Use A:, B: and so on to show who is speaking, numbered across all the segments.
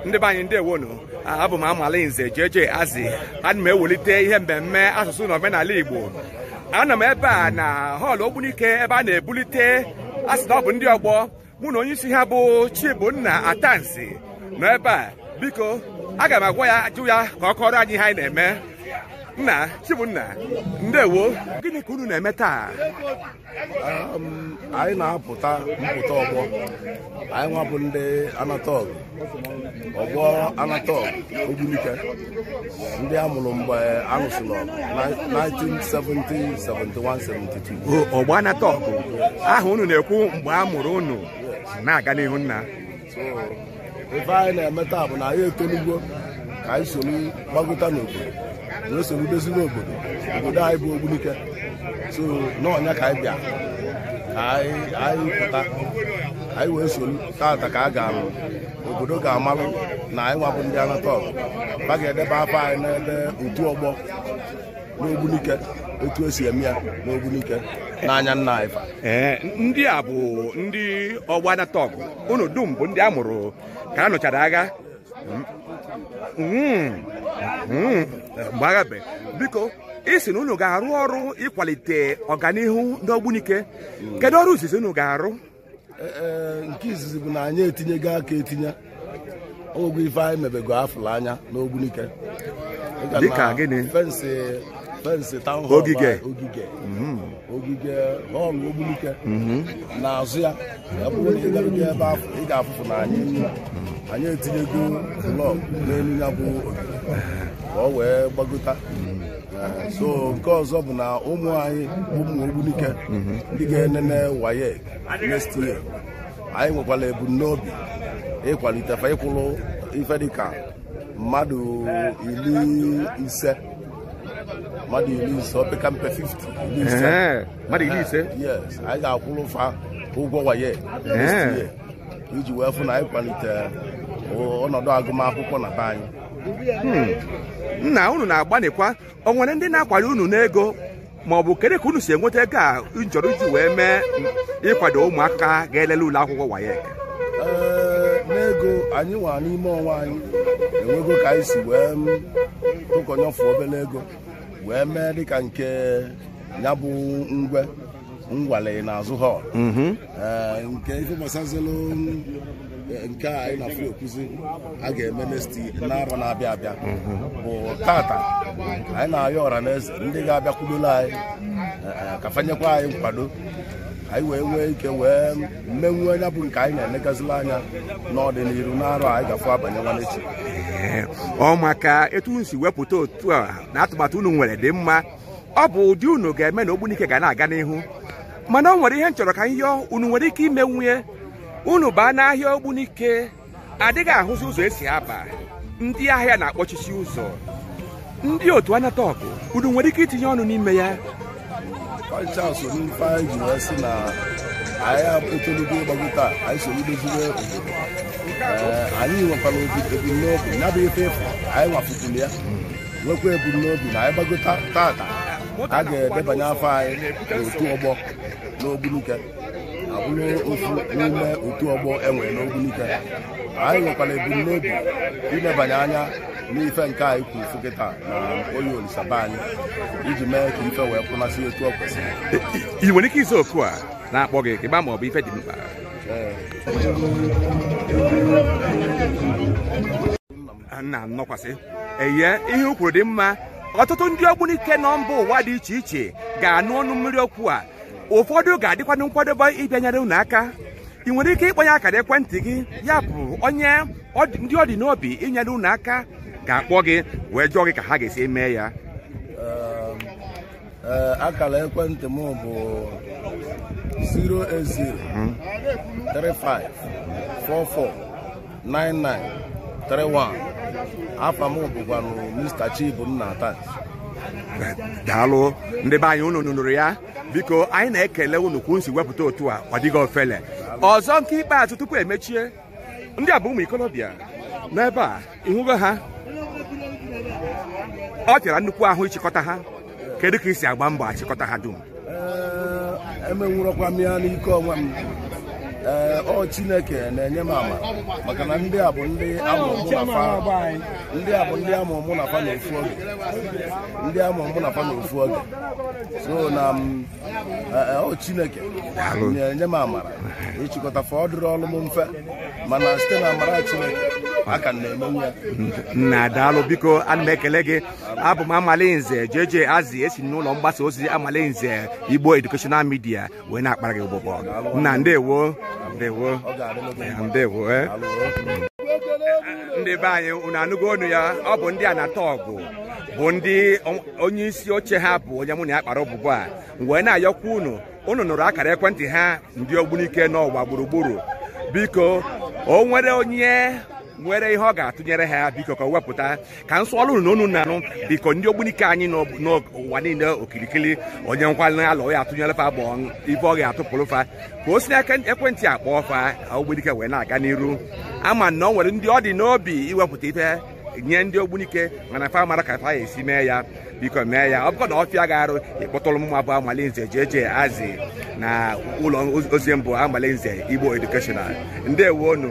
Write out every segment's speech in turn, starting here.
A: ndị be anyị ndewo nụ abụ m amala nze JJ Azzy ana m ewelite ihe mmemme asụsụ na omenala Igbo anọ m ebe a na họọlụ Ogbunike ebe a na-ebulite a sị na ọ bụ ndị ọgbọ mụ na onye isi ha bụ Chibunna Atansi nọ ebe a biko aga m agwa ya ajụ ya ka ọ kọọrọ anyị ihe anyị na-eme nna Chibunna ndewo gịnị ka unu na-eme taa Um, anyị na-apụta mpụta ọgbọ anyị nwa bụ ndị anata ọgụ ọgbọ anata ọgụ Ogbunike ndị a mụrụ mgbe a lụsịrị ọgụ na 1970 71 72 ọgbọ anata ọgụ aha unu na-ekwu mgbe a mụrụ unu na-aga n'ihu nna So, ife anyị na-eme taa bụ na anyị etolugwo ka anyị soro gbagota n'obodo wee soro doziwe obodo obodo anyị bụ ogbunike so na nya ka anyị bịa ka anyị anyị pụta ka anyị wee soro taata ka a ga-arụ obodo ga-amalụ na anyị nwa bụ ndị anata ọgụ a ga-edeba afa anyị n'ebe otu ọgbọ n'ogbunike etu e si eme ya n'ogbunike n'anya nna anyị fa ee ndị a bụ ndị ọgbọ anata ọgụ unu dum bụ ndị a mụrụ ka a nụchara agha Mm, mm, mgbe agha be biko ị sị na unu ga-arụ ọrụ ịkwalite ọganihu n'ogbunike kedu ọrụ izizi unu ga-arụ nke izizi bụ na anyị etinyego aka etinye o nwego ife anyị mebego a fụlụ anya n'ogbunike dịka gịnị fensị fensị taụn họl ogige ogige ogige họl ogbunike n'azụ ya ọ bụrụ na ị garugo ebe afụ ị ga-afụfụ na anyị anyị etinyego blọk n'elu ya bụ ogige ka ọ wee gbagota so nke ọzọ bụ na ụmụ anyị ụmụ ogbunike ndị ga-enene WAEC next year anyị nwekwara ebumnobi ịkwalite fa ịkwụrụ ife dịka mmadụ iri ise mmadụ iri ise opeka mpe 50 iri ise Ee, mmadụ iri ise yes anyị ga-akwụrụ fa ụgwọ WAEC next Ee. year iji wee fụ na anyị kwalite ọnọdụ agụmakwụkwọ na be anyị Hmm. nna unu na-agbanịkwa o nwere ndị na-akwado unu n'ego ma ọ bụ kedu ka unu si enweta ego unu chọrọ iji wee mee ịkwado ụmụaka ga-elele ule akwụkwọ WAEC Ee, n'ego anyị nwa n'ime onwe anyị e nwego ka anyị si wee tụkọnyefụ obere ego wee mee dịka nke ya bụ ngwe ngwale n'azụ họl mhm. eh, nke ife gbasazelu eh, nke a anyị na-afụ ekwuzi a ga-eme next n'arọ na-abịa abịa mhm. bụ tata anyị na-ayọ ọra na eze ndị ga-abịakwudolu anyị eh, ka fa nyekwa anyị nkwado anyị wee nwee ike wee menwuo nya bụ nke anyị na-enegazila anya n'ọdịnihu n'arọ anyị gafu abanye nwanne echi ọ maka etu unu si wepụta otu a na atụmatụ unu nwere dị mma ọ bụ ụdị unu ga-eme na ogbunike ga na-aga n'ihu mana ọ nwere ihe m chọrọ ka m yọọ unu nwere ike imenwu ya unu baa n'ahịa ogbunike adịghị ahụzi ụzọ esi aba ndị ahịa na-akpọchichi ụzọ ndị otu Anatọgụ unu nwere ike itinye ọnụ n'ime ya fa ncha so n'ife anyị ji wee sị na anyị apụtụlụgo ịgbagota anyị so idoziwe obodo Ee, anyị nwekwara obi ebumnobi ya bụ ife ịfụ anyị nwapụtụrụ ya nwekwa ebumnobi na anyị gbagota tata a ga-edebanye afa anyị n'otu ọgbọ n'ogbunike abụrụ ofu n'ime otu ọgbọ e nwere n'ogbunike anyị nwekwara ebumnobi ilebanye anya n'ife nke anyị kwuru fụ kịta na Oye Olisa be anyị iji mee ka ife wee kwụnasị etu ọ kwesịrị I nwere ike ịza oku a na-akpọ gị ka ị ma ma ọ bụ ife dị mkpa. Ee. nna nọkwasị eye ihe o kwuru dị mma ọtụtụ ndị ogbunike nọ mba ụwa dị iche iche ga-anụ ọnụ mmiri okwu a ụfọdụ ga-adịkwanụ nkwadobe ịbịa nyere unu aka ị nwere ike ịkpọnye akara ekwentị gị ya bụ onye ndị ọ dị n'obi inyere unu aka ga-akpọ gị wee jụọ gị ka ha ga-esi eme ya Ee, akara ekwentị m bụ 08035449931 afa m bụkwanụ Mr. Chibunna Ata daalụ ndị be anyị unu nụrụ ya biko anyị na-ekele unu ka unu si wepụta otu a ọ dịghị ofele ọzọ nke ikpeazụ tupu e mechie ndị a bụ ụmụ ikolobịa n'ebe a ịhụgo ha ọ ga-ara nnukwu ahụ ịchịkọta ha kedu ka ị si agba mbọ achịkọta ha dum emenwurọkwa m ya n'ike onwe m ee ọ chineke na-enye m ama maka na ndị a bụ ndị a mụ mụ na fa ndị a bụ ndị a mụ mụ na fa na ofu oge ndị a mụ mụ na fa na ofu oge so na m ọ chineke nye m amara ịchịkọta fa ọ dịrịrọ m mfe mana site na amara chineke ka m na-emenwu ya nna daalụ biko ana m ekele gị abụ m amalinze JJ Azzy e si n'ụlọ mgbasa ozi amalinze Igbo Educational Media wee na-akpara gị ụbụbọ nna ndewo ndewo ọ ga-adịrị gị mma. ndewo eh. Daalụ, eh. ndị be anyị unu anụgo onu ya ọ bụ ndị Anatọgụ bụ ndị onye isi oche ha bụ onye mụ na ya kpara ụbụbọ a wee na-ayọkwa unu unu nụrụ akara ekwentị ha ndị ogbunike n'ụwa gburugburu biko o nwere onye nwere ihe ọ ga-atụnyere ha biko ka o wepụta ka m sụọlụ unu n'onu unu na-anụ biko ndị ogbunike anyị n'ụwa niile okirikiri onye nkwalị alụ ya atụnyere fa bụ ife ọ ga-atụpụrụ fa ka o si n'akara ekwentị a kpọọ fa ogbunike wee na-aga n'iru ama m na o nwere ndị ọ dị n'obi iwepụta ife nye ndị ogbunike mana fa amarọ ka fa ya esi mee ya biko mee ya ọ bụkwa na ọ fịa gị arụ ị kpọtụrụ mmụwa bụ amalinze JJ Azị na ụlọ ozi m bụ amalinze igbo educational ndewo unu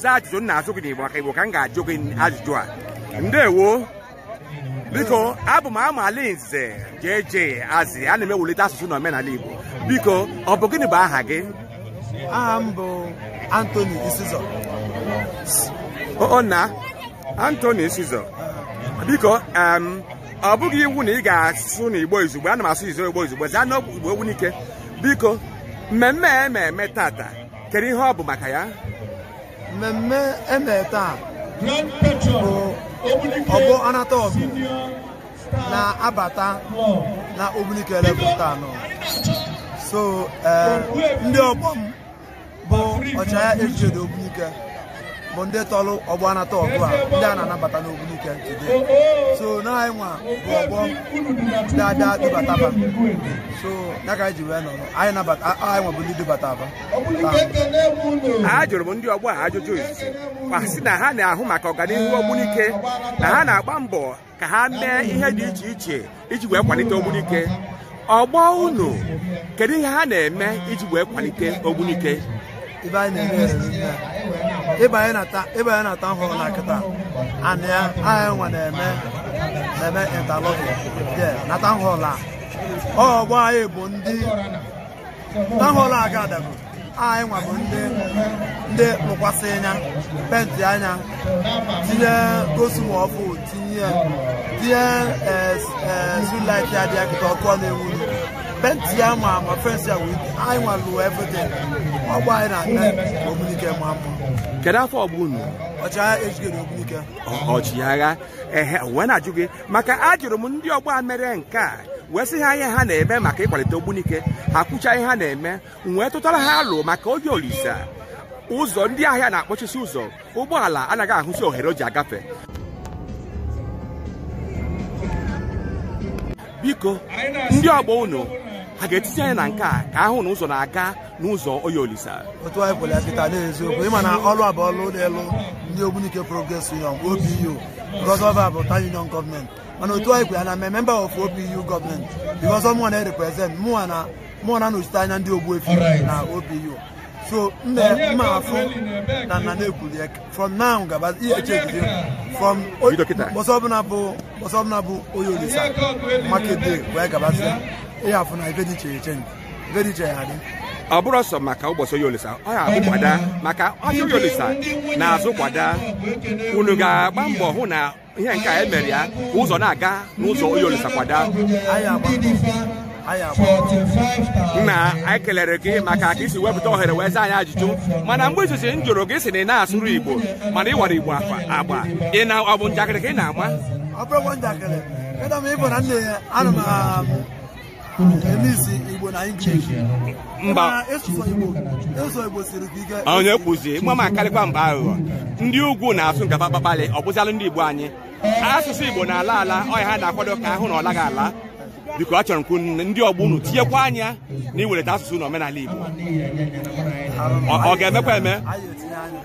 A: za ajụjụ m na-ajụ gị n'Igbo maka Igbo ka m ga-ajụ gị ajụjụ a ndewo biko abụ m Amalinze JJ Azị ana m ewulite asụsụ na omenala Igbo biko ọ bụ gịnị bụ aha gị aha m bụ Anthony Isizọ o na Anthony Isizọ biko ọ bụghị iwu na ị ga-asụ n'Igbo izugbo ana m asụ Igbo izugbo zaa n'Igbo Ogbunike biko mmemme a e mere tata kedu ihe ọ bụ maka ya mmemme e mere taa bụ ọgbọ anata ọgụ na-abata na ogbunike level taa nọ so eh, ndị ọgbọ m bụ ọchịagha ejigide ogbunike bụ ndị tọrọ ọgbọ anata ọgụ a ndị a na-anabata n'Ogbunike today so na anyị nwa bụ ọgbọ ndị abịa dubata fa so ya ka anyị ji wee nọrọ anyị nabata anyị nwa bụ ndị dubata fa a jụrụ m ndị ọgbọ a ajụjụ izizi ha sị na ha na-ahụ maka ọganihu Ogbunike na ha na-agba mbọ ka ha mee ihe dị iche iche iji wee kwalite ogbunike ọgbọ unu kedu ihe ha na-eme iji wee kwalite ogbunike ife anyị na-eme riri nne ị banye na ta ị banye na town hall a kịta anị ya anyị nwa na-eme mebe interlock dị na town hall a ọgbọ anyị bụ ndị town hall a ga-adago anyị nwa bụ ndị ndị lụkwasịa ya penti ya tinye gosumo ọfụ tinye tinye street light a dị ya kịta ọkụ ọ na-enwuru penti ya ma ma fensi ya wee anyị nwa lụọ everything ọgbọ anyị na-eme ogbunike maa mma kedu afa ọgbọ unu ọchịagha ejigide ogbunike ọchịagha ehe wee na-ajụ gị maka ajụrụ m ndị ọgbọ a mere nke a wee sị ha ihe ha na-eme maka ịkwalite ogbunike ha kwucha ihe ha na-eme m wee tụtara ha alo maka oye olisa ụzọ ndị ahịa na-akpọchisi ụzọ ụgbọala anaghị ahụzi ohere o ji agafe biko ndị ọgbọ unu ha ga-etizi anya na nke a ka a hụ na ụzọ na-aga n'ụzọ oye olisa otu anyị kwere ya kịta n'eziokwu ị ma na ọrụ a bụ ọrụ ụlọ elu ndị ogbunike progress union opu because ọ fa bụ town union gọọmenti mana otu anyị kwere ya na m bụ member of opu gọọmenti because ọ mụnwa na-represent mụnwa na mụnwa na-anọchite anya ndị ogbuefi na opu so m ga-afụ na nna na-ekwuli ya from now gaba ihe echegide from ụbọsị ọbụla bụ ụbọsị ọbụla bụ oye olisa market day wee gabazie ị ya-afụ na ife dị iche iche ọ bụrọ sọ maka ụbọsị oye olisa ọ ya-abụ kwada maka ahịa oye olisa na-azụ kwada unu ga-agba mbọ hụ na ihe nke a e mere ya ka ụzọ na-aga n'ụzọ oye olisa kwada nna anyị kelere gị maka ka i si wepụta ohere wee zaa anyị ajụjụ mana mgbe izizi m jụrụ gị sị na ị na-asụrụ igbo mana ị wara igbo agba ị na ọ bụ njakịrị ka ị na-ama ọ bụrọ njakịrị ịdọ m ịbụ na nne ya ana m mba onye kwuzi mmụa ma karịkwa mba aghụghọ ndị ugwu na-asụ nke fa kpakpalị ọ bụzịalụ ndị igbo anyị asụsụ igbo na-ala ala ọ ya ha na-akwado ka a hụ na ọ laghị ala biko achọrọ m ka ndị ọgbọ unu tinyekwa anya na iwelite asụsụ na omenala igbo ọ ga-emekwa eme